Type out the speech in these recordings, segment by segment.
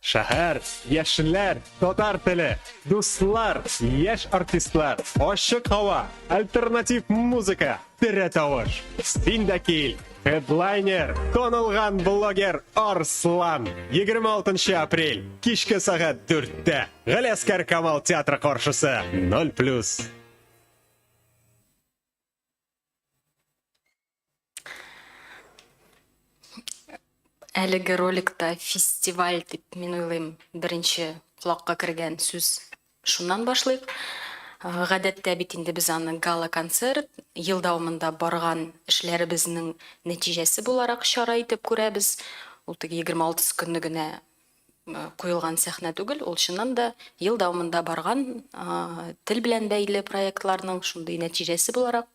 Шәһәр, яшьләр, татар теле, дуслар, яшь артистлар, ачык һава, альтернатив музыка, тере тавыш. Син дә кил! Хедлайнер, танылган блогер Арслан. 26 апрель, кичке сәгать 4-тә. Галәскәр Камал театры каршысы, 0+. Әлеге роликта фестиваль дип, мин уйлыйм, беренче колакка кергән сүз шуннан башлыйк. Гадәттә бит инде без аны гала-концерт, ел дәвамында барган эшләребезнең нәтиҗәсе буларак чара итеп күрәбез. Ул теге 26 көнне генә куелган сәхнә түгел, ул чыннан да ел дәвамында барган тел белән бәйле проектларның шундый нәтиҗәсе буларак,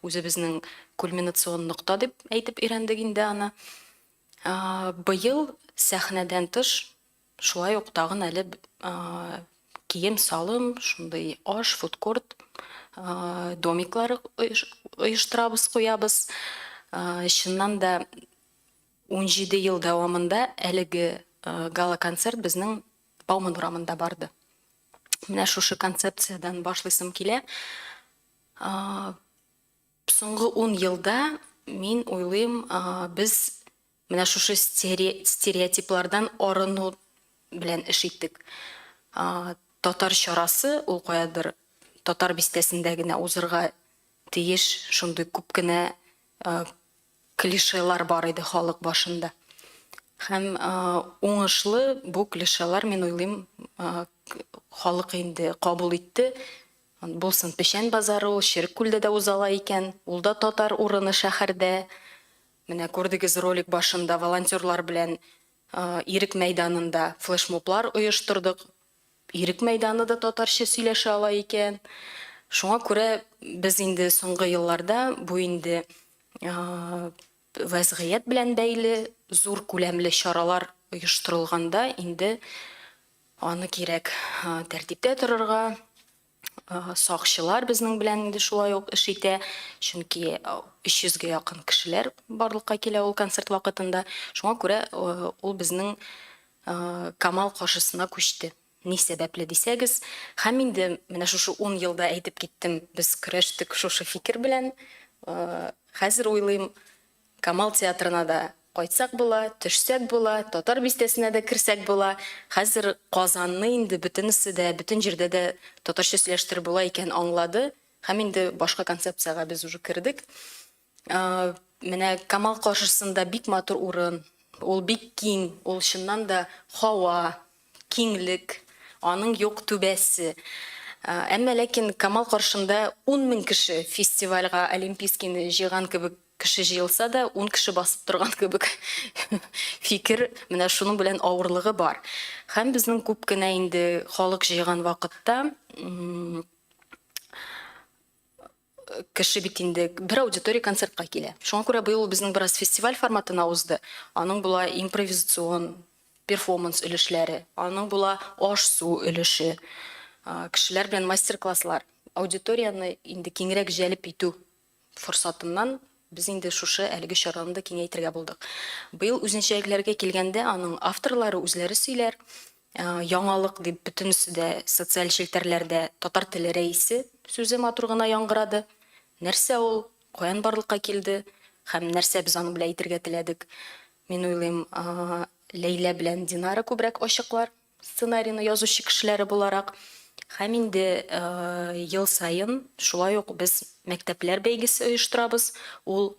үзебезнең кульминацион нокта дип әйтеп өйрәндек инде аны. Быел сәхнәдән тыш, шулай ук тагын әле кием-салым, шундый аш, фудкорт домиклары оештырабыз, куябыз. Чыннан да, Унҗиде ел дәвамында әлеге гала-концерт безнең Бауман урамында барды. Менә шушы концепциядән башлыйсым килә. Соңгы ун елда, мин уйлыйм, без менә шушы стереотиплардан арыну белән эш иттек. Татар чарасы, ул каядыр Татар бистәсендә генә узырга тиеш, шундый күп кенә клишелар бар иде халык башында. Һәм уңышлы бу клишелар, мин уйлыйм, халык инде кабул итте. Булсын, Печән базары ул Черек күлдә дә узала икән, ул да татар урыны шәһәрдә. Менә күрдегез ролик башында волонтерлар белән Ирек мәйданында флешмоблар оештырдык. Ирек мәйданы да татарча сөйләшә ала икән. Шуңа күрә без инде соңгы елларда бу инде вәзгыять белән бәйле зур күләмле чаралар оештырылганда инде аны кирәк тәртиптә торырга, Сакчылар безнең белән инде шулай ук эш итә, чөнки 300 гә якын кешеләр барлыкка килә ул концерт вакытында. Шуңа күрә ул безнең Камал каршысына күчте. Ни сәбәпле дисәгез, һәм инде менә шушы ун елда әйтеп киттем, без көрәштек шушы фикер белән. Хәзер уйлыйм, Камал театрына да кайтсак була, төшсәк була, Татар бистәсенә дә керсәк була. Хәзер Казанны инде бөтенесе дә, бөтен җирдә дә татарча сөйләштер була икән аңлады һәм инде башка концепциягә без уже кердек. Менә Камал каршысында бик матур урын, ул бик киң, ул чыннан да һава, Киңлек, аның юк түбәсе. Әмма ләкин Камал каршында ун мең кеше, фестивальга Олимпийскийны җыйган кебек кеше җыелса да, ун кеше басып торган кебек фикер, менә шуның белән авырлыгы бар. Һәм безнең күп кенә инде халык җыйган вакытта, Кеше бит инде бер аудитория концертка килә. Шуңа күрә быел ул безнең бераз фестиваль форматына узды. Аның була импровизацион, перфоманс өлешләре, аның була аш-су өлеше, кешеләр белән мастер-класслар, аудиторияне инде киңрәк җәлеп итү форсатыннан Без инде шушы әлеге чараны да киңәйтергә булдык. Быел үзенчәлекләргә килгәндә, аның авторлары үзләре сөйләр. Яңалык дип бөтенесе дә социаль челтәрләрдә Татар теле рәисе сүзе матур гына яңгырады. Нәрсә ул, каян барлыкка килде һәм нәрсә без аның белән әйтергә теләдек? Мин уйлыйм, Ләйлә белән Динара күбрәк ачыклар. Сценарийны язучы кешеләре буларак һәм инде ел саен шулай ук без мәктәпләр бәйгесе оештырабыз. Ул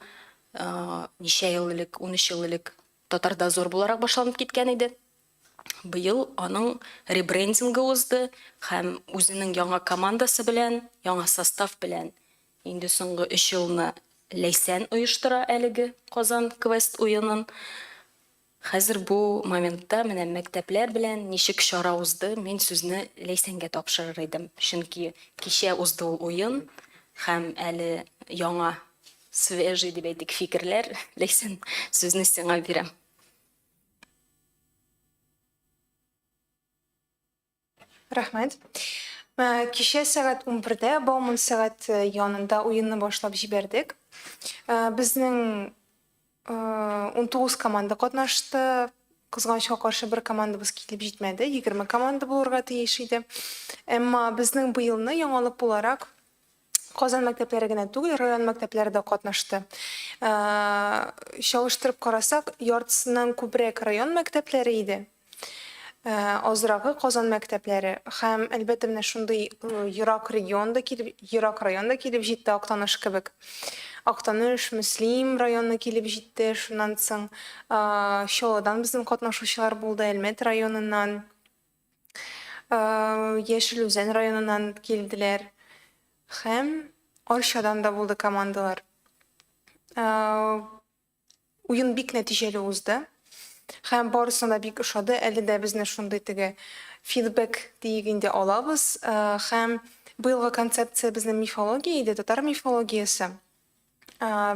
ничә ел элек, унөч ел элек Татар-дозор буларак башланып киткән иде. Быел аның ребрендингы узды һәм үзенең яңа командасы белән, яңа состав белән инде соңгы өч елны Ләйсән оештыра әлеге Казан квест уенын. Хәзер бу моментта менә мәктәпләр белән ничек чара узды, мин сүзне Ләйсәнгә тапшырыр идем, чөнки кичә узды ул уен һәм әле яңа, свежий дип әйтик, фикерләр, Ләйсән, сүзне сиңа бирәм. Рәхмәт. Ә, Кичә сәгать 11-дә Бауман сәгать э, янында уенны башлап җибәрдек. Ә, Безнең э, 19 команда катнашты. Кызганычка каршы бер командабыз килеп җитмәде. 20 команда булырга тиеш иде. Әмма безнең быелны яңалык буларак Казан мәктәпләре генә түгел, район мәктәпләре дә катнашты. Чалыштырып карасак, яртысыннан күбрәк район мәктәпләре иде. Азрагы Казан мәктәпләре һәм әлбәттә менә шундый ерак регион да килеп, ерак район да килеп җитте Актаныш кебек. Актаныш, Мөслим районы килеп җитте. Шуннан соң Чаллыдан безнең катнашучылар булды, Әлмәт районыннан. Яшел Үзән районыннан килделәр һәм Арчадан да булды командалар. Уен бик нәтиҗәле узды һәм барысына бик ошады. Әле дә безне шундый теге фидбэк диек инде алабыз һәм быелгы концепция безнең мифология иде, татар мифологиясе.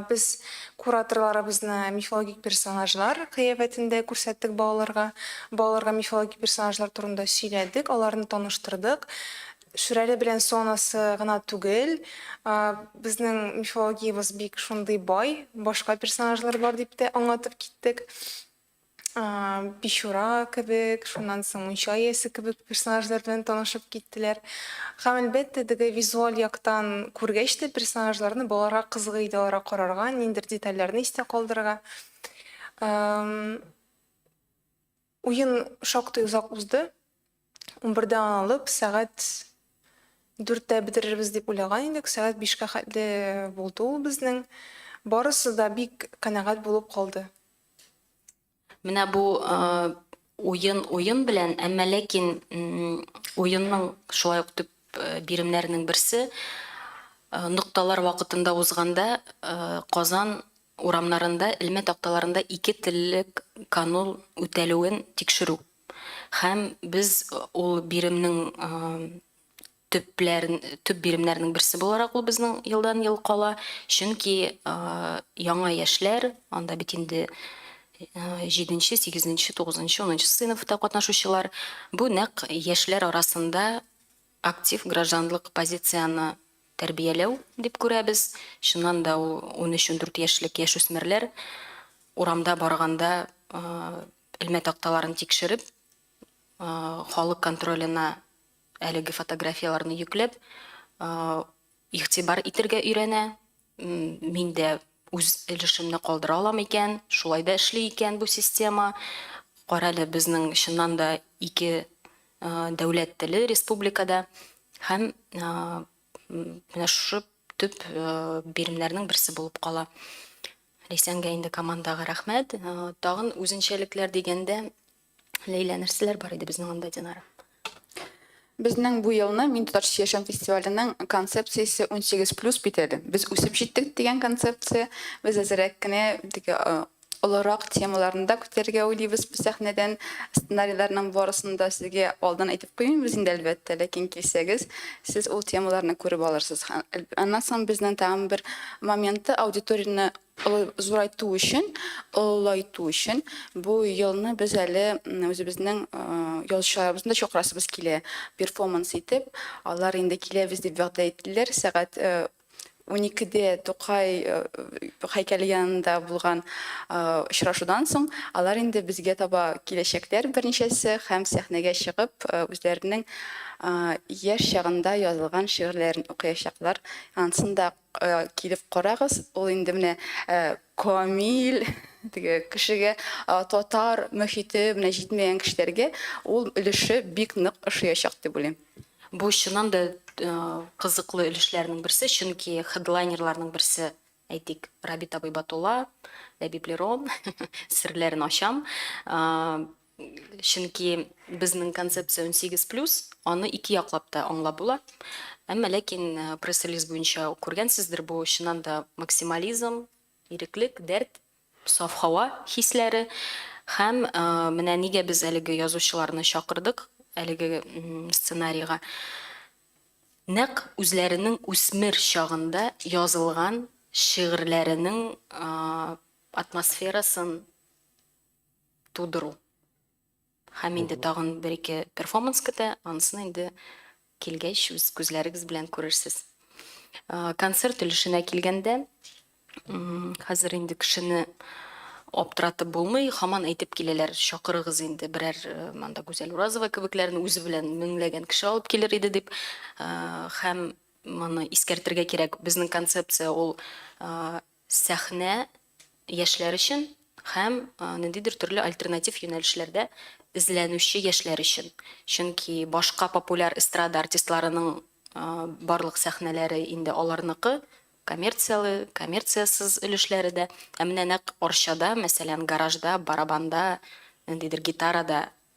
Без кураторларыбызны мифологик персонажлар кыяфәтендә күрсәттек балаларга. Балаларга мифологик персонажлар турында сөйләдек, аларны таныштырдык. Шүрәле белән Сонасы гына түгел, безнең мифологиябез бик шундый бай, башка персонажлар бар дип тә аңлатып киттек. Бичура кебек, шуннан соң Мунча иясе кебек персонажлар белән танышып киттеләр. Һәм, әлбәттә, теге визуаль яктан күргәч тә, персонажларны балаларга кызык иде аларга карарга, ниндидер детальләрне истә калдырырга. Уен шактый озак узды. Унбердән алып сәгать дүрттә бетерербез дип уйлаган идек. Сәгать бишкә хәтле булды ул безнең. Барысы да бик канәгать булып калды. Менә бу уен уен белән, әмма ләкин уенның шулай ук төп биремнәренең берсе нокталар вакытында узганда Казан урамнарында элмә такталарында ике теллек канун үтәлүен тикшерү. Һәм без ул биремнең төпләрен, төп биремнәрнең берсе буларак ул безнең елдан-ел кала, чөнки яңа яшьләр, анда бит инде җиденче, сигезенче, тугызынчы, унынчы сыйныфта катнашучылар, бу нәкъ яшьләр арасында актив гражданлык позицияне тәрбияләү дип күрәбез. Чыннан да, ул унөч-ундүрт яшьлек яшүсмерләр урамда барганда Элмә такталарын тикшереп, халык контролена әлеге фотографияләрне йөкләп, игътибар итергә өйрәнә. Мин дә үз өлешемне калдыра алам икән, шулай да эшли икән бу система. Карале, безнең чыннан да ике дәүләт теле республикада һәм менә шушы төп биремнәрнең берсе булып кала. Ләйсәнгә инде командага рәхмәт. Тагын үзенчәлекләр дигәндә, Ләйлә, нәрсәләр бар иде безнең анда, Динара? Безнең бу елны Мин татарча яшәүм фестиваленең концепциясе 18 плюс бит әле. Без үсеп җиттек дигән концепция. Без әзрәк кенә теге олырак темаларны да күтәрергә уйлыйбыз бу сәхнәдән. Сценарийларның барысын да сезгә алдан әйтеп Куймыйбыз инде, әлбәттә, ләкин килсәгез, сез ул темаларны күреп алырсыз. Аннан соң безнең тагын бер моменты, аудиторияне зурайту өчен, олылайту өчен бу елны без әле үзебезнең ялчыларыбызны да чакырасыбыз килә, перформанс итеп. Алар инде киләбез дип вәгъдә иттеләр, сәгать Уникедә Тукай һәйкәле янында булган очрашудан соң, алар инде безгә таба киләчәкләр берничәсе һәм сәхнәгә чыгып, үзләренең яшь чагында язылган шигырьләрен укыячаклар. Ансын да килеп карагыз, ул инде менә Камил теге кешегә татар мөхите менә җитмәгән кешеләргә ул өлеше бик нык ошыячак дип уйлыйм. Бу чыннан да кызыклы өлешләрнең берсе, чөнки хедлайнерларның берсе, әйтик, Рабит абый Батулла, Ләбиб Лерон, серләрен ачам, Чөнки безнең концепция унсигез плюс, аны ике яклап та аңлап була. Әмма ләкин пресс-релиз буенча ук күргәнсездер, бу чыннан да максимализм, иреклек, дәрт, саф һава хисләре. Һәм менә нигә без әлеге язучыларны чакырдык әлеге сценарийга. Нәкъ үзләренең үсмер чагында язылган шигырьләренең атмосферасын тудыру. Һәм инде Мгм. тагын бер-ике перформанс көтә, анысын инде килгәч үз күзләрегез белән күрерсез. Э, Концерт өлешенә килгәндә, м, хәзер инде кешене аптыратып булмый, хаман әйтеп киләләр, чакырыгыз инде берәр э, монда Гүзәл Уразова кебекләрне үзе белән меңләгән кеше алып килер иде дип. Э, Һәм моны искәртергә кирәк, безнең концепция ул э, сәхнә яшьләр өчен һәм ниндидер төрле альтернатив юнәлешләрдә эзләнүче яшьләр өчен. Чөнки башка популяр эстрада артистларының барлык сәхнәләре инде аларныкы, коммерцияле, коммерциясез өлешләре дә. Ә менә нәкъ Арчада, мәсәлән, гаражда, барабанда, ниндидер гитарада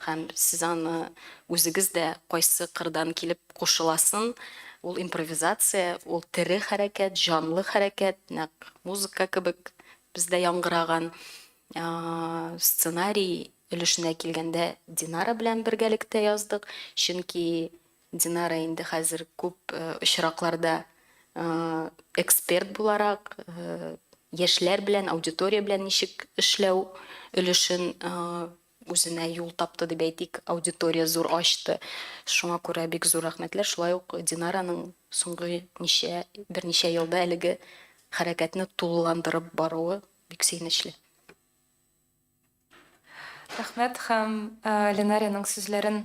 Һәм сез аны үзегез дә кайсы кырдан килеп кушыласын, ул импровизация, ул тере хәрәкәт, җанлы хәрәкәт, нәкъ музыка кебек бездә яңгыраган. Сценарий өлешенә килгәндә, Динара белән бергәлектә яздык, чөнки Динара инде хәзер күп очракларда эксперт буларак, яшьләр белән, аудитория белән ничек эшләү өлешен үзенә юл тапты дип әйтик, аудитория зур ачты. Шуңа күрә бик зур рәхмәтләр. Шулай ук Динараның соңгы ничә, берничә елда әлеге хәрәкәтне тулыландырып баруы бик сөенечле. Рәхмәт һәм Линариянең сүзләрен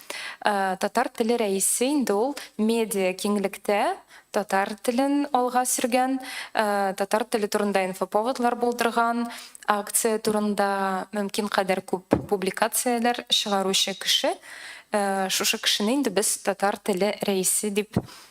Татар теле рәисе инде ул медиа киңлектә татар телен алга сөргән, татар теле турында инфоповодлар булдырган, акция турында мөмкин кадәр күп публикацияләр чыгаручы кеше. Шушы кешене инде без татар теле рәисе дип атыйбыз.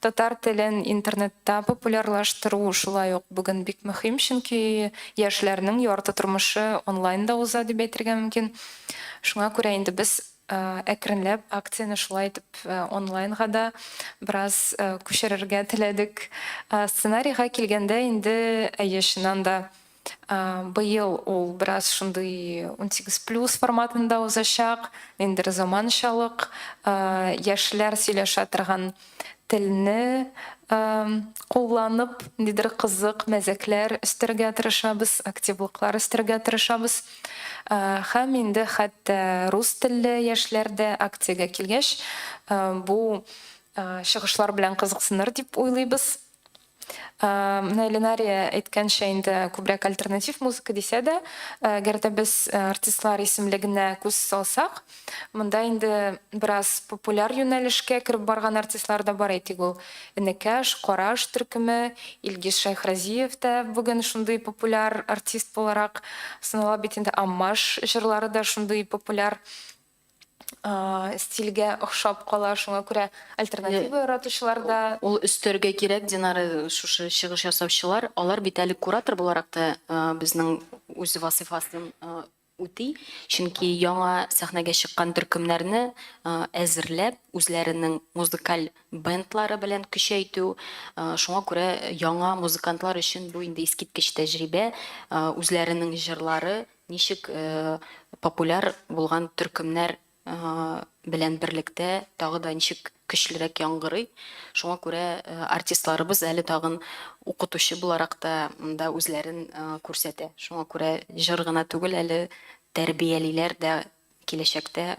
Татар телен интернетта популярлаштыру шулай ук бүген бик мөһим, чөнки яшьләрнең ярты тормышы онлайнда уза дип әйтергә мөмкин. Шуңа күрә инде без әкренләп акцияне шулай итеп онлайнга да бераз күчерергә теләдек. Сценарийга килгәндә инде, әйе, чыннан да, Быел ул бераз шундый унсигез плюс форматында узачак. Ниндидер заманчалык, яшьләр сөйләшә торган телне кулланып, ниндидер кызык мәзәкләр өстәргә тырышабыз, активлыклар өстәргә тырышабыз. Һәм инде хәтта рус телле яшьләр дә акциягә килгәч, бу чыгышлар белән кызыксыныр дип уйлыйбыз. Менә Ленария әйткәнчә инде, күбрәк альтернатив музыка дисә дә, әгәр дә без артистлар исемлегенә күз салсак, монда инде бераз популяр юнәлешкә кереп барган артистлар да бар. Әйтик, ул Энекәш, Караш төркеме, Илгиз Шәйхразиев тә бүген шундый популяр артист буларак санала бит инде. Аммаш җырлары да шундый популяр. стильгә охшап кала, шуңа күрә альтернатива яратучылар да. Ул өстәргә кирәк, Динара, шушы чыгыш ясаучылар, алар бит әле куратор буларак та безнең үз вазыйфасын үти, чөнки яңа сәхнәгә чыккан төркемнәрне әзерләп, үзләренең музыкаль бендлары белән көчәйтү, шуңа күрә яңа музыкантлар өчен бу инде искиткеч тәҗрибә, үзләренең җырлары, Ничек популяр булган төркемнәр белән берлектә тагы да ничек көчлерәк яңгырый. Шуңа күрә артистларыбыз әле тагын укытучы буларак та монда үзләрен күрсәтә. Шуңа күрә җыр гына түгел, әле тәрбиялиләр дә киләчәктә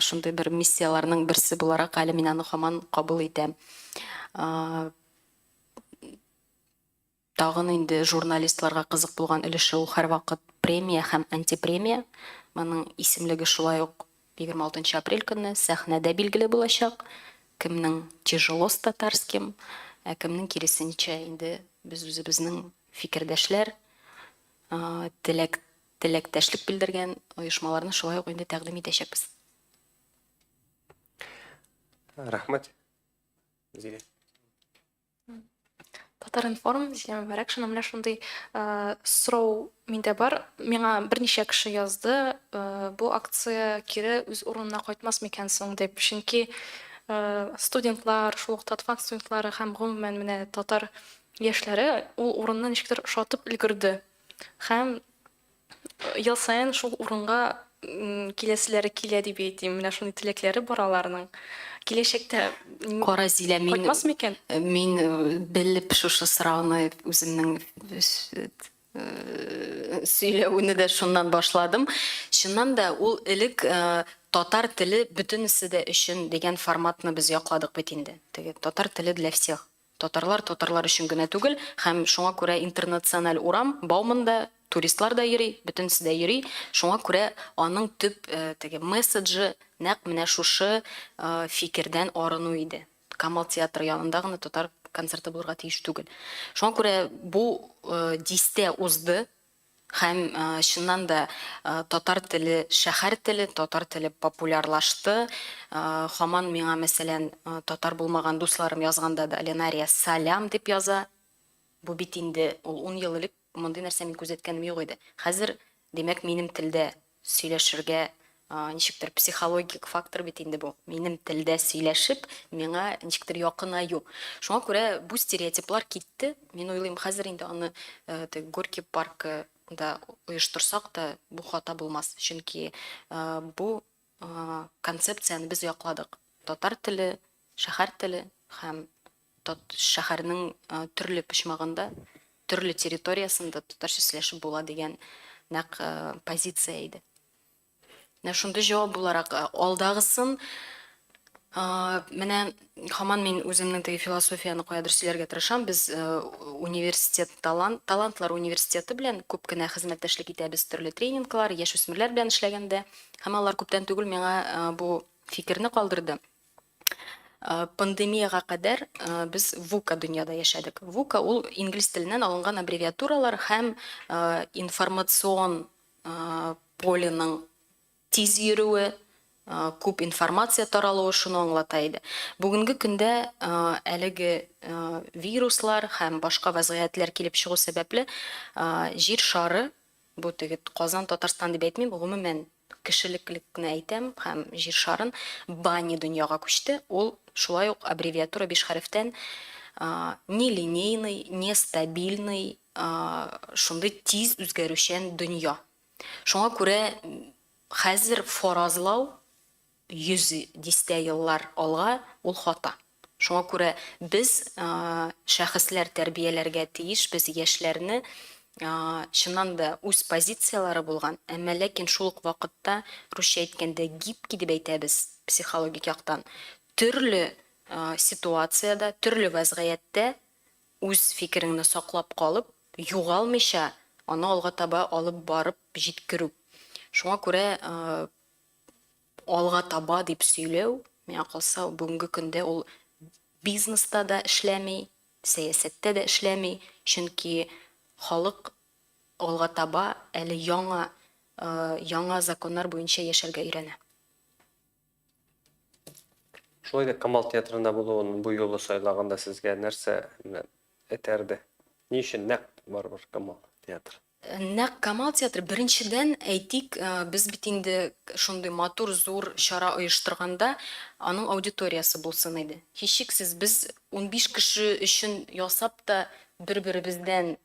Шундый бер миссияләрнең берсе буларак әле мин аны һаман кабул итәм. Тагын инде журналистларга кызык булган өлеше ул һәрвакыт премия һәм антипремия. Моның исемлеге шулай ук 26 апрель көнне сәхнәдә билгеле булачак. Кемнең тяжело с татарским, ә кемнең киресенчә, инде без үзебезнең фикердәшләр, теләк Теләктәшлек белдергән оешмаларны шулай ук инде тәкъдим итәчәкбез. Рәхмәт. Зилә. Татаринформ, Зилә Мөбәрәкшина, менә шундый сорау миндә бар. Миңа берничә кеше язды, бу акция кире үз урынына кайтмас микән соң дип. Чөнки студентлар, шул ук Татфак студентлары һәм гомумән менә татар яшьләре ул урынны ничектер ошатып өлгерде. Һәм ел саен шул урынга киләселәре килә дип әйтим. Менә шундый теләкләре бар аларның. Киләчәктә Кара, Зилә, мин кайтмас микән? Мин белеп шушы сорауны үземнең сөйләвне дә шуннан башладым. Чыннан да, ул элек Татар теле бөтенесе дә өчен дигән форматны без якладык бит инде. Теге Татар теле для всех. Татарлар татарлар өчен генә түгел, һәм шуңа күрә интернациональ урам, Бауманда туристлар да йөри, бөтенесе дә йөри, шуңа күрә аның төп теге месседжы нәкъ менә шушы фикердән арыну иде, Камал театры янында гына татар концерты булырга тиеш түгел. Шуңа күрә бу дистә узды, Һәм, чыннан да, татар теле, шәһәр теле, татар теле популярлашты. Һаман миңа, мәсәлән, татар булмаган дусларым язганда да Ленария салям дип яза. Бу бит инде, ул ун ел элек мондый нәрсә мин күзәткәнем юк иде. Хәзер, димәк, минем телдә Сөйләшергә, ничектер, психологик фактор бит инде бу. Минем телдә сөйләшеп, миңа ничектер якынаю. Шуңа күрә бу стереотиплар китте. Мин уйлыйм, хәзер инде аны теге Горький паркы да оештырсак та, бу хата булмас. Чөнки бу концепцияне без якладык. Татар теле, шәһәр теле һәм. тот шәһәрнең төрле почмагында, төрле территориясендә татарча сөйләшеп була дигән нәкъ позиция иде. Менә шундый җавап буларак алдагысын менә хаман мин үземнең теге философияне каядыр сөйләргә тырышам. Без университет талант, талантлар университеты белән күп кенә хезмәттәшлек итәбез төрле тренинглар, яшүсмерләр белән эшләгәндә. Һәм алар күптән түгел миңа бу фикерне калдырды. Э, пандемияга кадәр э, без вука дөньяда яшәдек вука ул инглиз теленнән алынган аббревиатуралар һәм э, информацион поленың тиз йөрүе күп информация таралуы шуны аңлата иде бүгенге көндә әлеге вируслар һәм башка вәзгыятьләр килеп чыгу сәбәпле җир шары бу теге казан татарстан дип әйтмим гомумән Кешелеклекне әйтәм һәм Җир шарын Бани дөньяга күчте, ул шулай ук аббревиатура биш хәрефтән нелинейный, нестабильный, шундый тиз үзгәрүчән дөнья. Шуңа күрә хәзер фаразлау 100 дистә еллар алга ул хата. Шуңа күрә без шәхесләр тәрбияләргә тиешбез яшьләрне чыннан да үз позицияләре булган, әмма ләкин шул ук вакытта русча әйткәндә гибкий дип әйтәбез психологик яктан, төрле ситуациядә, төрле вәзгыятьтә үз фикереңне саклап калып, югалмыйча аны алга таба алып барып җиткерү. Шуңа күрә алга таба дип сөйләү, миңа калса, бүгенге көндә ул бизнеста да эшләми, сәясәттә дә эшләми, чөнки халык алга таба әле яңа, яңа законнар буенча яшәргә өйрәнә. Шулай да Камал театрында булуын бу юлы сайлаганда сезгә нәрсә этәрде? Ни өчен нәкъ барыбер Камал театры? Нәкъ Камал театры, беренчедән, әйтик, без бит инде шундый матур, зур чара оештырганда, аның аудиториясе булсын иде. Һичшиксез, без унбиш кеше өчен ясап та, бер-беребездән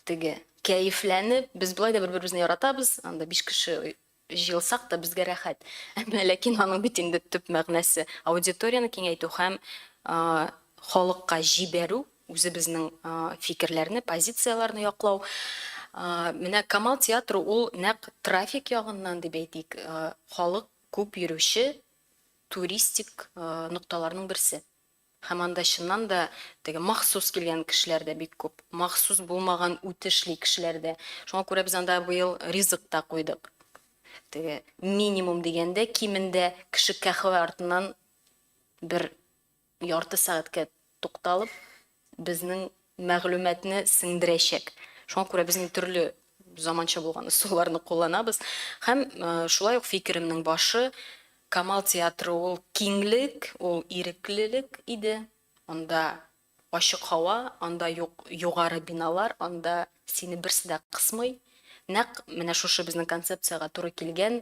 теге кәефләнеп, без болай да бер-беребезне яратабыз, анда биш кеше Җыелсак та безгә рәхәт. Әмма ләкин аның бит инде төп мәгънәсе, аудиторияне киңәйтү һәм халыкка җибәрү, үзебезнең фикерләрне, позицияләрне яклау. Менә Камал театры ул нәкъ трафик ягыннан дип әйтик, халык күп йөрүче туристик нокталарның берсе. Һәм анда чыннан да теге махсус килгән кешеләр дә бик күп, махсус булмаган үтешли кешеләр дә. Шуңа күрә без анда быел ризык та куйдык. Теге минимум дигәндә, кимендә кеше каһвә артыннан бер ярты сәгатькә тукталып, безнең мәгълүматны сеңдерәчәк. Шуңа күрә без инде төрле заманча булган ысулларны кулланабыз. Һәм шулай ук фикеремнең башы, Камал театры ул киңлек, ул иреклелек иде. Анда ачык һава, анда юк югары биналар, анда сине берсе дә кысмый. Нәкъ менә шушы безнең концепциягә туры килгән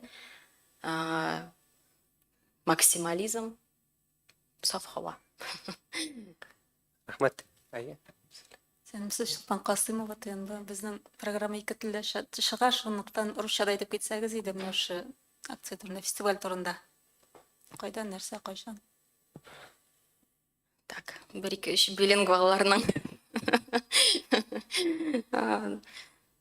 максимализм. Саф һава. Рәхмәт. Әйе. Сәлимсызчылыктан Касыймова тыенды. Безнең программа ике телдә чыга, шунлыктан русча да әйтеп китсәгез иде менә шушы акция турында, фестиваль турында. Кайда, нәрсә, кайчан? Так, бер ике өч билингвалларның.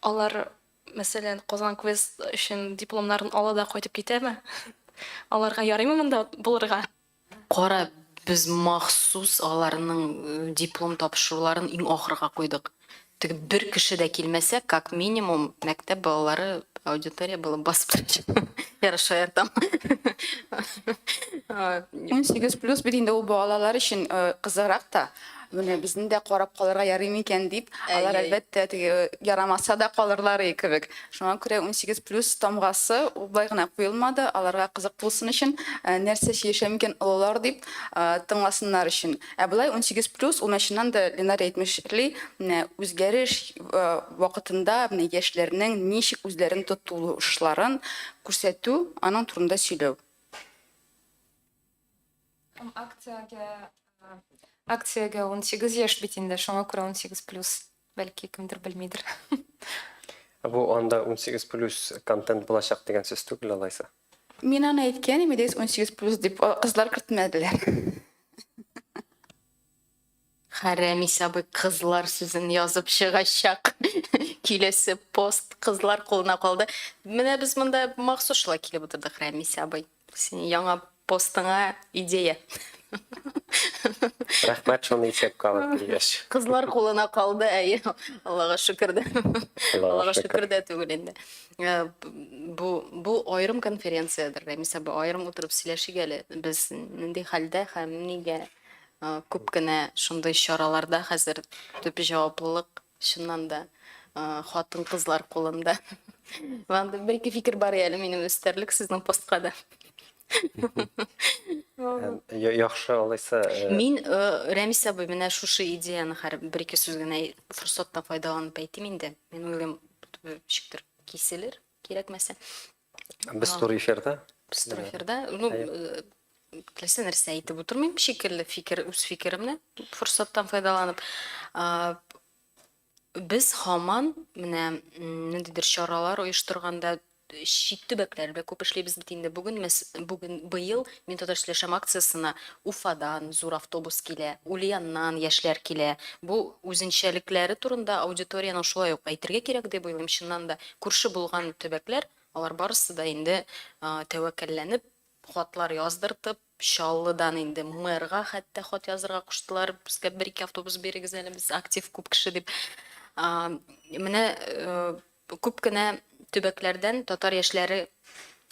Алар, мәсәлән, Казан квест өчен дипломнарын ала да кайтып китәме? Аларга ярыймы монда булырга? Кара, без махсус аларның диплом тапшыруларын иң ахырга куйдык. Теге бер кеше дә килмәсә, как минимум, мәктәп балалары аудитория булып басып торачак. Ярый шаяртам. Унсигез плюс бит инде ул балалар өчен кызыграк та. Менә безне дә карап калырга ярый микән дип, алар әлбәттә теге ярамаса да калырлар и кебек. Шуңа күрә 18 плюс тамгасы ул болай гына куелмады, аларга кызык булсын өчен, нәрсә сөйләшә микән олылар дип, тыңласыннар өчен. Ә болай 18 плюс ул менә чыннан да Ленар әйтмешли, менә үзгәреш вакытында менә яшьләрнең ничек үзләрен тотулышларын күрсәтү, аның турында сөйләү. Һәм акциягә, акциягә 18 яшь бит инде, шуңа күрә 18 плюс, бәлки кемдер белмидер. Бу анда 18 плюс контент булачак дигән сүз түгел алайса? Мин аны әйткән имидес 18 плюс дип, кызлар кертмәделәр. Хәрәми сабый кызлар сүзен язып чыгачак киләсе пост кызлар кулына калды. Менә без монда махсус шулай килеп утырдык, Рәмис абый. Синең яңа постыңа идея. Рәхмәт, шуны исәпкә алып килгәч. Кызлар кулына калды, әйе. Аллага шөкер дә. Аллага шөкер дә түгел инде. Э, бу бу аерым конференциядер, Рәмис абый, аерым утырып сөйләшик әле. Без нинди хәлдә һәм нигә Күп кенә шундый чараларда хәзер төп җаваплылык, чыннан да, хатын-кызлар кулында. Андый бер ике фикер бар әле минем өстәрлек сезнең постка да. Яхшы, алайса. Мин, Рәмис абый, менә шушы идеяны хәер бер ике сүз генә форсаттан файдаланып әйтим инде. Мин уйлыйм, ничектер киселер, кирәкмәсә. Без Ага. туры эфирда. Без туры эфирда. Ну, Хәер. э, теләсә нәрсә әйтеп утырмыйм шикелле фикер, үз фикеремне форсаттан файдаланып. А, Без һаман менә м, ниндидер чаралар оештырганда чит төбәкләр белән күп эшлибез бит инде. Бүген мәс- бүген быел мин татар сөйләшәм акциясенә Уфадан зур автобус килә, Ульяннан яшьләр килә. Бу үзенчәлекләре турында аудиториянең шулай ук әйтергә кирәк дип уйлыйм. Чыннан да Күрше булган төбәкләр, алар барысы да инде тәвәккәлләнеп, хатлар яздыртып, Чаллыдан инде мэрга хәтта хат язырга куштылар, безгә бер-ике автобус бирегез әле, без актив, күп кеше дип. Менә күп кенә төбәкләрдән татар яшьләре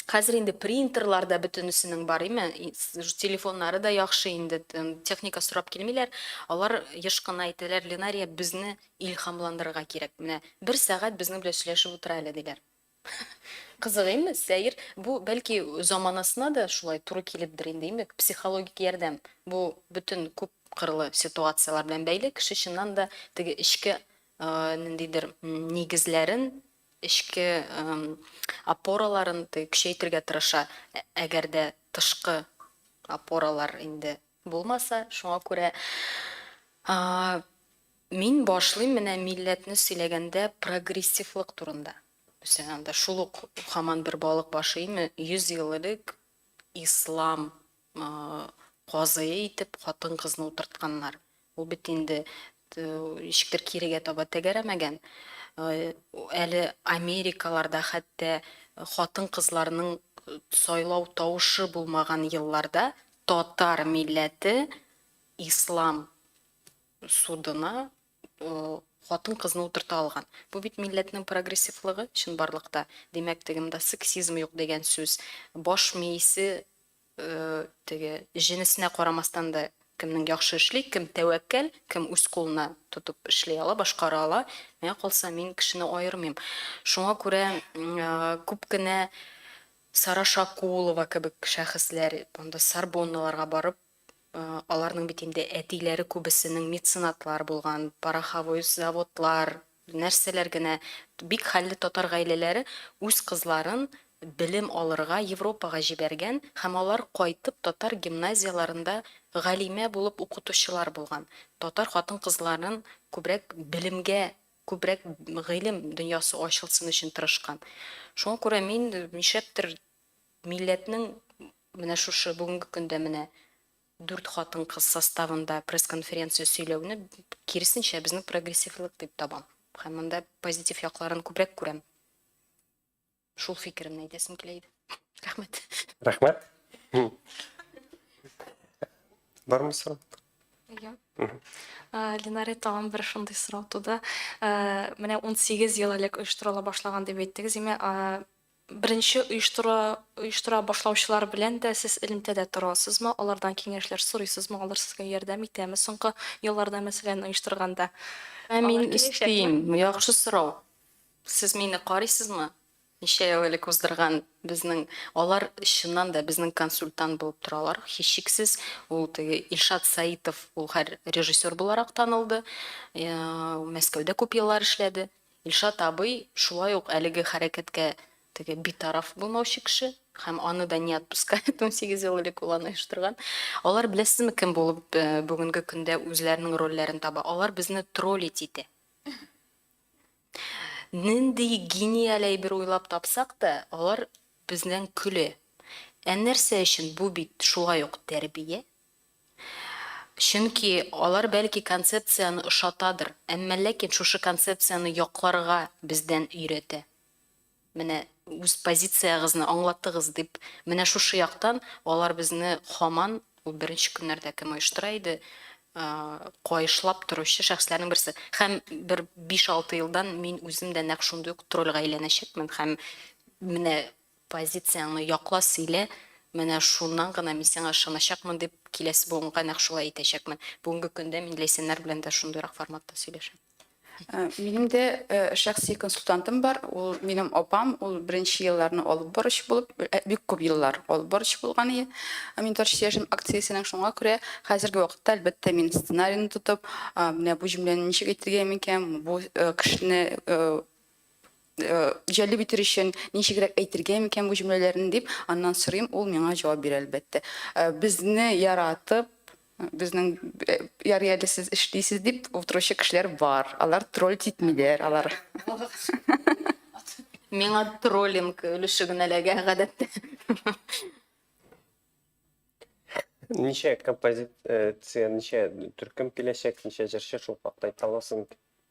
Хәзер инде принтерлар да бөтенесенең бар, име? Телефоннары да яхшы инде, техника сорап килмиләр. Алар еш кына әйтәләр, Ленария, безне Илһамландырырга кирәк. Менә бер сәгать безнең белән сөйләшеп утыра әле, диләр. Кызык инде, сәер. Бу, бәлки, заманасына да шулай туры килепдер инде, имек, психологик ярдәм. Бу бөтен күп кырлы ситуацияләр белән бәйле, кеше чыннан да теге эчке ниндидер нигезләрен, эчке опораларын теге көчәйтергә тырыша, әгәр дә тышкы опоралар инде. Булмаса, шуңа күрә Мин башлыйм менә милләтне сөйләгәндә прогрессивлык турында. Үсең анда шул ук хаман бер балык башы име 100 ел элек ислам казые итеп хатын кызны утыртканнар. Ул бит инде ничектер кирегә таба тәгәрәмәгән. Әле Америкаларда хәтта хатын кызларның сайлау тавышы булмаган елларда татар милләте ислам судына хатын-кызны утырта алган. Бу бит милләтнең прогрессивлыгы чынбарлыкта. Димәк, теге монда сексизм юк дигән сүз. Баш миисе теге җенесенә карамастан да кемнең яхшы эшли, кем тәвәккәл, кем үз кулына тотып эшли ала, башкара ала. Миңа калса, мин кешене аермыйм. Шуңа күрә күп кенә Сара Шакулова кебек шәхесләр монда Сорбонналарга барып Аларның бит инде әтиләре күбесенең меценатлар булган, пороховой заводлар, нәрсәләр генә. Бик хәлле татар гаиләләре үз кызларын белем алырга Европага җибәргән һәм алар кайтып татар гимназияларында галимә булып укытучылар булган. Татар хатын-кызларын күбрәк белемгә, күбрәк гыйлем дөньясы ачылсын өчен тырышкан. Шуңа күрә мин нишләптер милләтнең менә шушы бүгенге көндә менә дүрт хатын-кыз составында пресс-конференция сөйләүне киресенчә безнең прогрессивлык дип табам. Һәм монда позитив якларын күбрәк күрәм. Шул фикеремне әйтәсем килә иде. Рәхмәт. Рәхмәт. Бармы сорау? Ия. Линарә тагын бер шундый сорау туды. Менә 18 ел элек оештырыла башлаган дип әйттегез, димә, Беренче оештыра оештыра башлаучылар белән дә сез элемтәдә торасызмы, алардан киңәшләр сорыйсызмы, алар сезгә ярдәм итәме соңгы елларда, мәсәлән, оештырганда? Ә мин өстим, яхшы сорау. Сез мине карыйсызмы? Ничә ел элек уздырган безнең алар чыннан да безнең консультант булып торалар, һичшиксез, ул теге Илшат Саитов, ул хәр режиссер буларак танылды, Мәскәүдә күп еллар эшләде. Илшат абый шулай ук әлеге хәрәкәткә теге битараф булмаучы кеше һәм аны да не отпускает унсигез ел элек ул аны оештырган. Алар беләсезме кем булып бүгенге көндә үзләренең рольләрен таба? Алар безне троллить итә. Нинди гениаль әйбер уйлап тапсак та, алар бездән көлә. Ә нәрсә өчен? Бу бит шулай ук тәрбия, Чөнки алар бәлки концепцияне ошатадыр, әмма ләкин шушы концепцияне якларга бездән өйрәтә. Менә үз позициягызны аңлатыгыз дип, менә шушы яктан алар безне һаман, ул беренче көннәрдә кем оештыра иде, каешлап торучы шәхесләрнең берсе. Һәм бер биш-алты елдан мин үзем дә нәкъ шундый ук трольгә әйләнәчәкмен һәм менә Позицияңне якла, сөйлә, менә шуннан гына мин сиңа ышаначакмын, дип киләсе буынга нәкъ шулай итәчәкмен. Бүгенге көндә мин Ләйсәннәр белән дә шундыйрак форматта сөйләшәм. Минем дә шәхси консультантым бар, ул минем апам, ул беренче елларны алып баручы булып, бик күп еллар алып баручы булган иде Минтарчы яшен акциясенең, шуңа күрә хәзерге вакытта, әлбәттә, мин сценарийны тотып, менә бу җөмләне ничек әйтергә микән, бу кешене җәлеп итер өчен ничегрәк әйтергә микән бу җөмләләрне дип аннан сорыйм, ул миңа җавап бирә, әлбәттә. Безне яратып, безнең ярый әле сез эшлисез дип утыручы кешеләр бар. Алар тролль титмиләр, алар. Миңа троллинг өлеше генә эләгә гадәттә. Ничә композиция, ничә төркем киләчәк, ничә җырчы шул хакта әйтә аласың?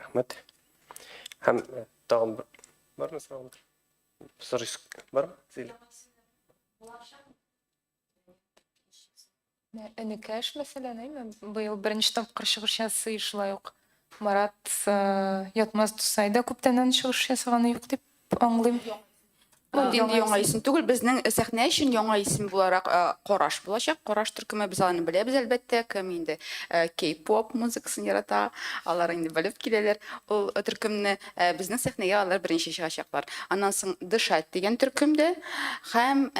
рәхмәт һәм тагын бармы сораулар сорыйс бармы зилә энекәш мәсәлән әйме быел беренче тапкыр чыгыш ясый шулай ук марат ятмаз дусай да күптәннән чыгыш ясаганы юк дип Аңлыйм. Бу инде яңа исем түгел, безнең сәхнә өчен яңа исем буларак Караш булачак. Караш төркеме без аларны беләбез, әлбәттә, кем инде кей-поп музыкасын ярата, алар инде белеп киләләр ул төркемне. Безнең сәхнәгә алар беренче чыгачаклар. Аннан соң Дышать дигән төркем дә һәм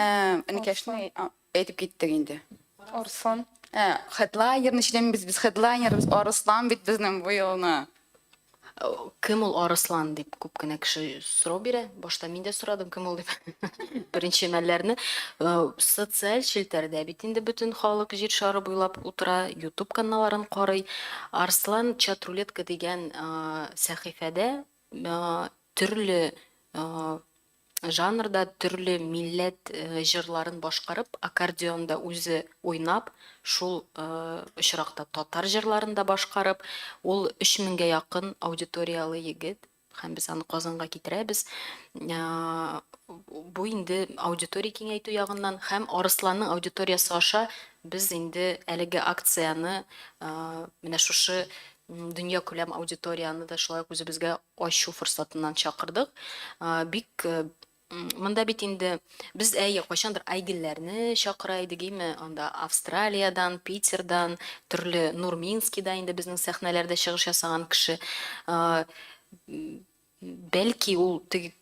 Энекәшнең Әйтеп киттек инде. Арслан. Ә, хедлайнер ничек без без хедлайнербыз, Арыслан бит безнең бу елны. Кем ул Арыслан дип күп кенә кеше сорау бирә. Башта мин дә сорадым, кем ул дип. Беренче мәлләрне социаль челтәрдә бит инде бөтен халык җир шары буйлап утыра, YouTube каналларын карый. Арслан Чатрулетка дигән сәхифәдә төрле Жанрда төрле милләт җырларын башкарып, аккордеонда үзе уйнап, шул очракта татар җырларын да башкарып, ул өч меңгә якын аудиторияле егет һәм без аны Казанга китерәбез. Бу инде аудитория киңәйтү ягыннан һәм Арысланның аудиториясе аша без инде әлеге акцияне менә шушы Дөньякүләм аудиторияне дә шулай ук үзебезгә ачу форсатыннан чакырдык. Бик Монда бит инде без, әйе, кайчандыр Айгельләрне чакыра идек, име, анда Австралиядән, Питердан, төрле Нурминскида инде безнең сәхнәләрдә чыгыш ясаган кеше. Бәлки ул теге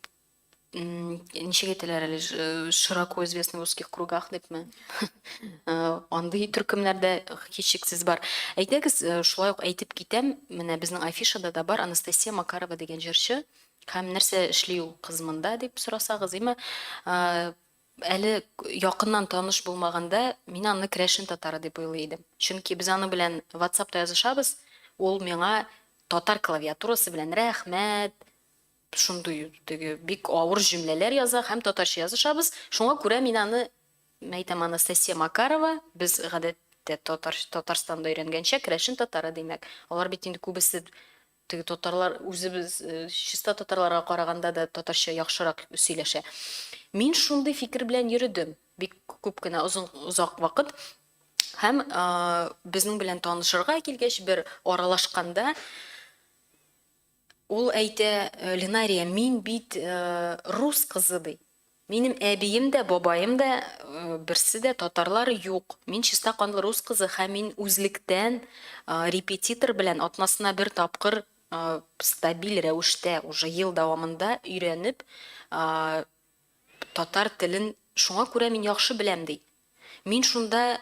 ничек әйтәләр әле широко известный в узких кругах дипме андый төркемнәр дә һичшиксез бар әйдәгез шулай ук әйтеп китәм менә безнең афишада да бар анастасия макарова дигән җырчы һәм нәрсә эшли ул кыз монда дип сорасагыз имә әле якыннан таныш булмаганда мин аны крәшен татары дип уйлый идем чөнки без аның белән ватсапта язышабыз ул миңа татар клавиатурасы белән рәхмәт Шундый теге бик авыр җөмләләр яза һәм татарча язышабыз. Шуңа күрә мин аны әйтәм, Анастасия Макарова, без гадәттә татар, Татарстанда өйрәнгәнчә, керәшен татары, димәк. Алар бит инде күбесе теге татарлар, үзебез, чиста татарларга караганда да татарча яхшырак сөйләшә. Мин шундый фикер белән йөредем бик күп кенә озын, озак вакыт. Һәм а, безнең белән танышырга килгәч, бер аралашканда, Ул әйтә, Линария, мин бит рус кызы, ди. Минем әбием дә, бабаем да, берсе дә татарлар юк. Мин чиста канлы рус кызы һәм мин үзлектән репетитор белән атнасына бер тапкыр стабиль рәвештә уже ел дәвамында өйрәнеп татар телен, шуңа күрә мин яхшы беләм, ди. Мин шунда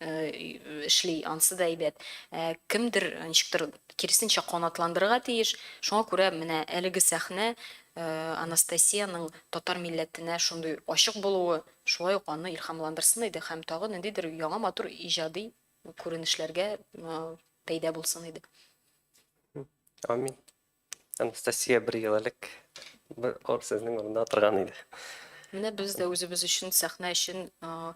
эшли, ансы да әйбәт. Ә кемдер ничектер киресенчә канатландырырга тиеш. Шуңа күрә менә әлеге сәхнә Анастасиянең татар милләтенә шундый ачык булуы, шулай ук аны илһамландырсын иде һәм тагы ниндидер яңа матур иҗади күренешләргә пәйда булсын иде. Амин. Анастасия бер ел элек бер ор сезнең урында утырган иде. Менә без дә үзебез өчен сәхнә өчен а,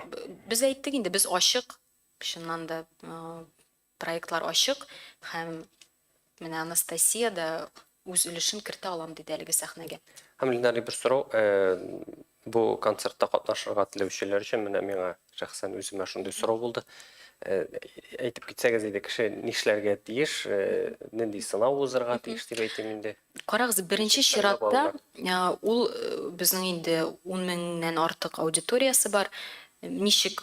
б- без әйттек инде без ачык. Чыннан да а, проектлар ачык һәм менә Анастасия да үз өлешен кертә алам диде әлеге сәхнәгә. Һәм Линарый бер сорау, э, Бу концертта катнашырга теләүчеләр өчен менә миңа шәхсән үземә шундый сорау булды. Әйтеп китсәгез иде, кеше нишләргә тиеш, нинди сынау узырга тиеш дип әйтим инде. Карагыз, беренче чиратта ул безнең инде 10 меңнән артык аудиториясе бар. Ничек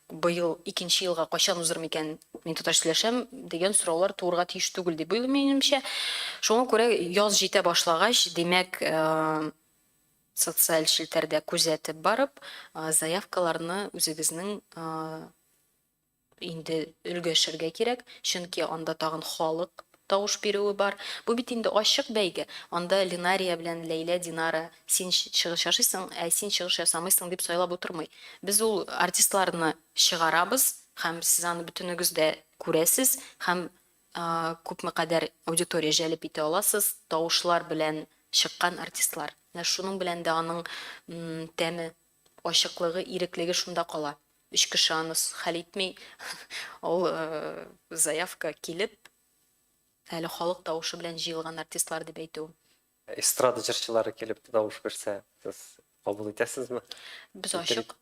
Быел икенче елга кайчан узыр микән, мин тоташ сөйләшәм, дигән сораулар туырга тиеш түгел дип уйлыйм, минемчә. Шуңа күрә яз җитә башлагач, димәк, социаль челтәрдә күзәтеп барып, заявкаларны үзегезнең инде өлгәшергә кирәк, чөнки анда тагын халык тавыш бирүе бар. Бу бит инде ачык бәйге. Анда Линария белән Ләйлә Динара син чыгыш яшыйсың, ә син чыгыш ясамыйсың дип сайлап утырмый. Без ул артистларны чыгарабыз һәм сез аны бөтенегез дә күрәсез һәм күпме кадәр аудитория җәлеп итә аласыз, тавышлар белән чыккан артистлар. Менә шуның белән дә аның тәме. Ачыклыгы, иреклеге шунда кала. Өч кеше аны хәл итми, ул заявка килеп, әле халык тавышы белән җыелган артистлар дип әйтү. Эстрада җырчылары килеп тавыш бирсә, сез кабул итәсезме? Без ачык.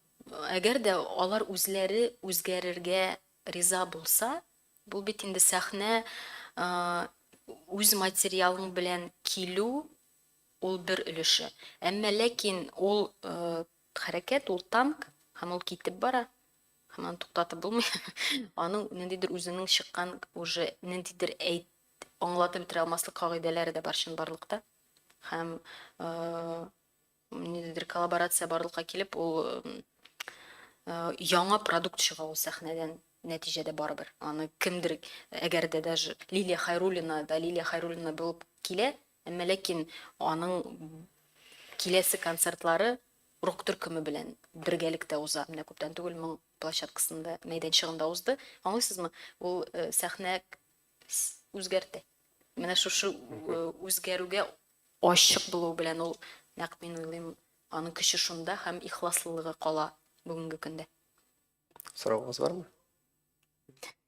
Әгәр дә алар үзләре үзгәрергә риза булса, бу бит инде сәхнә, үз материалың белән килү, Ул бер өлеше. Әмма ләкин ул хәрәкәт, ул танк, һәм ул китеп бара, һәм аны туктатып булмый. Аның ниндидер үзенең чыккан уже ниндидер әйт аңлатып бетерә алмаслык кагыйдәләре дә бар чынбарлыкта. Һәм ниндидер коллаборация барлыкка килеп, ул яңа продукт чыга ул сәхнәдән нәтиҗәдә барыбер. Аны кемдер, әгәр дә даже Лилия Хайруллина да Лилия Хайруллина булып килә, Әмма ләкин аның киләсе концертлары рок төркеме белән бергәлектә уза. Менә күптән түгел моң площадкасында, мәйданчыгында узды. Аңлыйсызмы? Ул сәхнә үзгәртә. Менә шушы үзгәрүгә ачык булуы белән ул, нәкъ мин уйлыйм, аның көче шунда һәм ихласлылыгы кала бүгенге көндә. Соравыгыз бармы?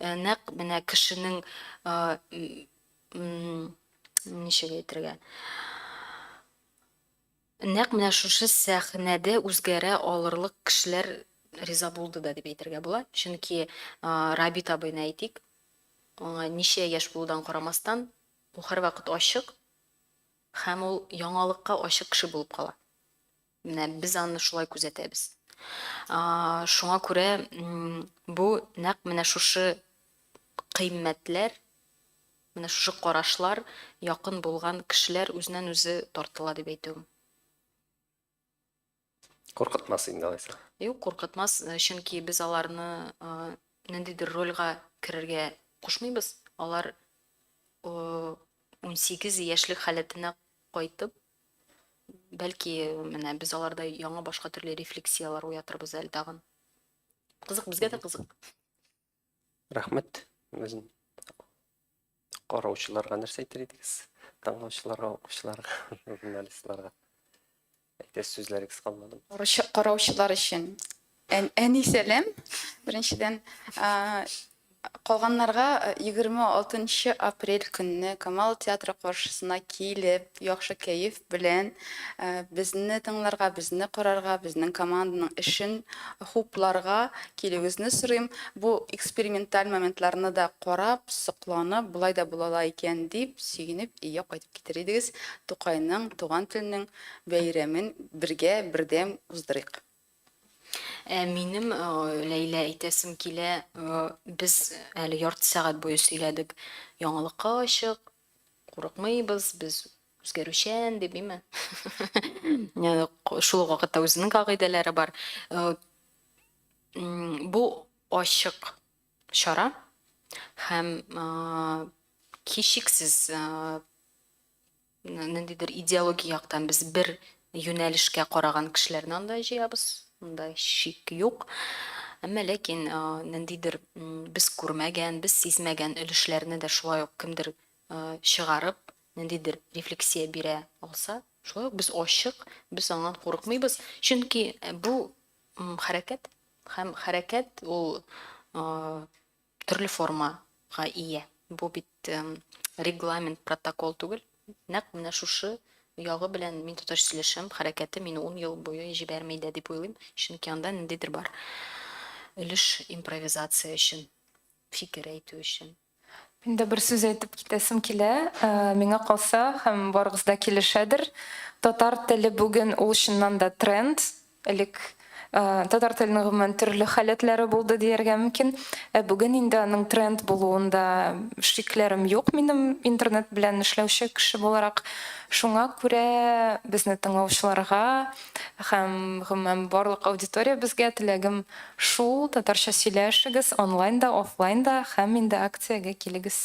Нәкъ менә кешенең ничек әйтергә? Нәкъ менә шушы сәхнәдә үзгәрә алырлык кешеләр риза булды да дип әйтергә була. Чөнки Рабит абыйны әйтик, аңа ничә яшь булудан карамастан, ул һәрвакыт ачык һәм ул яңалыкка ачык кеше булып кала. Менә без аны шулай күзәтәбез. Шуңа күрә бу нәкъ менә шушы кыйммәтләр, менә шушы карашлар якын булган кешеләр үзеннән-үзе тартыла дип әйтүем. Куркытмас инде алайса. Юк, куркытмас, чөнки без аларны ниндидер рольгә керергә кушмыйбыз. Алар унсигез яшьлек халәтенә кайтып, Бәлки, менә без аларда яңа башка төрле рефлексияләр уятырбыз әле тагын. Кызык, безгә дә кызык. Рәхмәт. Үзен караучыларга нәрсә әйтер идегез? Тыңлаучыларга, укучыларга, журналистларга. Әйтәс сүзләрегез калмады. Караучылар өчен Әни сәлам. Беренчедән, калганнарга 26 нчы апрель көнне Камал театры каршысына килеп, яхшы кәеф белән безне тыңларга, безне карарга, безнең команданың эшен хупларга килүегезне сорыйм. Бу эксперименталь моментларны да карап, сокланып, болай да була ала икән дип сөенеп өйгә кайтып китер идегез. Тукайның, туган телнең бәйрәмен бергә, бердәм уздырыйк! Ә минем, Ләйлә, әйтәсем килә, без әле ярты сәгать буе сөйләдек. Яңалыкка ачык, курыкмыйбыз, без үзгәрүчән, дип, име? Шул ук вакытта үзенең кагыйдәләре бар. Бу ачык чара һәм кичексез ниндидер идеология яктан без бер юнәлешкә караган кешеләрне анда җыябыз, монда шик юк. Әмма ләкин ниндидер без күрмәгән, без сизмәгән өлешләрне дә шулай ук кемдер чыгарып, ниндидер рефлексия бирә алса, шулай ук без ачык, без аннан курыкмыйбыз. Чөнки бу хәрәкәт һәм хәрәкәт ул төрле формага ия. Бу бит регламент, протокол түгел. Нәкъ менә шушы ягы белән мин тоташ сөйләшәм, хәрәкәте мине ун ел буе җибәрми дә дип уйлыйм, чөнки анда ниндидер бар өлеш импровизация өчен, фикер әйтү өчен. Мин дә бер сүз әйтеп китәсем килә, миңа калса, һәм барыгыз да килешәдер, татар теле бүген ул чыннан да тренд, Элек татар теленең гомумән төрле халәтләре булды дияргә мөмкин. Ә бүген инде аның тренд булуында шикләрем юк минем, интернет белән эшләүче кеше буларак. Шуңа күрә безне тыңлаучыларга һәм гомумән барлык аудиториябезгә теләгем шул, татарча сөйләшегез онлайн да, офлайн да һәм инде акциягә килегез.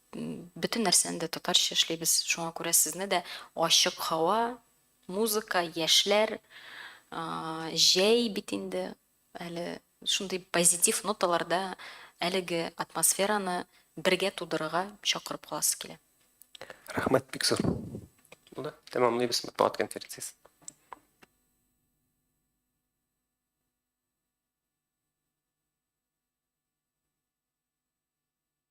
Бөтен нәрсәне дә татарча эшлибез, шуңа күрә сезне дә ачык һава, музыка, яшьләр, җәй бит инде, әле шундый позитив ноталарда әлеге атмосфераны бергә тудырырга чакырып каласы килә. Рәхмәт, бик зур. Булды, тәмамлыйбыз матбугат конференциясен.